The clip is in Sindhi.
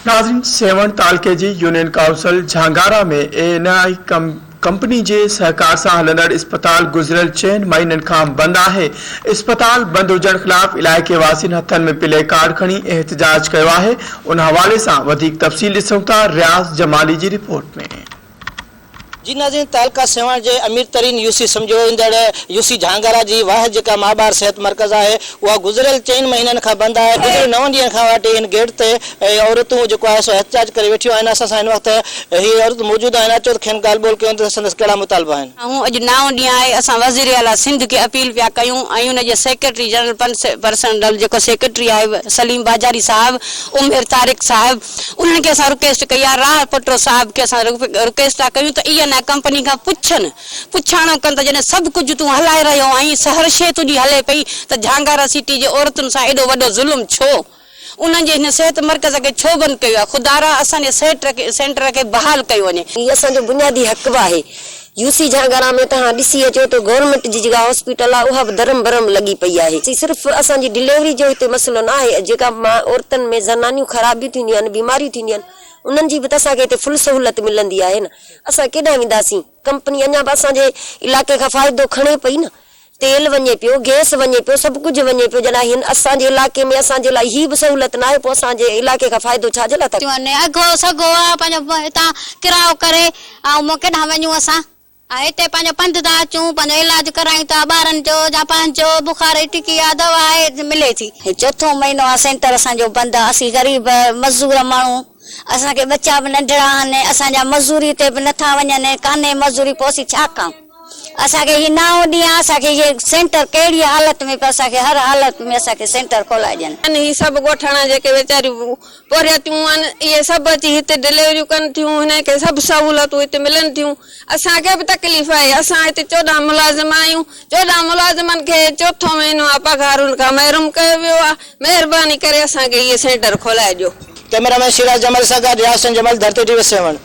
ناظرين سيوهڻ تعلقي جي union council Jhangara ۾ E N I company جي سهڪار سان هلندڙ اسپتال گذريل چئن مهينن کان بند آهي، اسپتال بند هجڻ خلاف علائقي واسين هٿن ۾ پلي ڪارڊ کڻي احتجاج ڪيو آهي، ان حوالي سان وڌيڪ تفصيل ڏسون ٿا رياض جمالي جي رپورٽ ۾. جي ناظرين تعلقه سيوهڻ جي امير ترين يو سي سمجهيو ويندڙ يو سي جهانگارا جي واحد جيڪا ماء ٻار صحت مرڪز آهي اها گذريل چئن مهينن کان بند آهي گذريل نون ڏينهن کان واٽي هن گيٽ تي عورتون جيڪو آهي سو احتجاج ڪري ويٺيون آهن اسان سان هن وقت اهي عورتون موجود آهن اچو ته کين ڳالهه ٻولهه ڪيون ته سندس ڪهڙا مطالبا آهن. اهو اڄ نائون ڏينهن آهي اسان وزير اعليٰ سنڌ کي اپيل پيا ڪيون ۽ ان جي سيڪريٽري جنرل پنس پرسنل جيڪو سيڪريٽري آهي سليم باجاري صاحب عمر طارق صاحب انهن کي اسان رڪيسٽ ڪئي آهي راهه پٽو صاحب کي اسان رڪيسٽ ٿا ڪيون ته اي اين آء ڪمپني کان پڇن پڇاڻو ڪن ته جڏهن سڀ ڪجهه تون هلائي رهيو آهين سه هر شيء تنهنجي هلي پئي ته جهانگارا سٽي جي عورتن سان ايڏو وڏو ظلم ڇو انهن جي هن صحت مرڪز کي ڇو بند ڪيو آهي خدارا اسان جي سيٽر سينٽر کي بحال ڪيو وڃي. هي اسان جو بنيادي حق به آهي يو سي جهانگارا ۾ توهان ڏسي اچو ته گورنمينٽ جي جيڪا هاسپيٽل آهي اها به درهم برهم لڳي پئي آهي صرف اسان جي ڊليوري جو هتي مسئلو نه آهي جيڪا عورتن ۾ زنانيون خرابيون ٿينديون آهن بيماريون ٿينديون آهن انهن جي به ته اسان کي هتي فل سهولت ملندي آهي نه اسان ڪيڏانهن وينداسين ڪمپني اڃا به اسان جي علائقي کان فائدو کڻي پئي نه تيل وڃي پيو، گئس وڃي پيو، سڀ ڪجهه وڃي پيو، جڏهن هن اسان جي علائقي ۾ اسان جي لاء هي به سهولت ناهي پوء اسان جي علائقي کان فائدو ڇا جي لاء ٿا ڪريون. ٿيون اگهو سگهو آ پنهنجو هتان ڪرايو ڪري ۽ مون ڪيڏانهن وڃون اسان ۽ هتي پنهنجو پنڌ ٿا اچون پنهنجو علاج ڪرايون ٿا ٻارن جو يا پنهنجو بخار جي ٽڪي آ دوا آهي ملي ٿي. هي چوٿون مهينو آ سينٽر اسان جو بند آ اسين غريب مزور ماڻهو اسان کي ٻچا به ننڍڙا آهن اسان جا مزوري تي به نٿا وڃن ڪانهي مزوري پوء اسين ڇا ڪايون. اسان کي هي نائون ڏيان اسان کي هي سينٽر ڪهڙي حالت ۾ پر اسان کي هر حالت ۾ اسان کي سينٽر کولائي ڏين. ان هي سڀ ڳوٺاڻا جيڪي ويچاريون پورهيتيون آهن اهي سڀ اچي هتي ڊليوريون ڪن ٿيون هنن کي سڀ سهولتون هتي ملن ٿيون اسان کي به تڪليف آهي اسان هتي چوڏهن ملازم آهيون چوڏهن ملازمن کي چوٿون مهينو آ پگهار ان کان محروم ڪيو ويو آ مهرباني ڪري اسان کي هي سينٽر کولائي ڏيو. ڪئميرا مين شيراز جمل سان گڏ رياض حسين جمل ڌرتي ٽي وي سيوهڻ.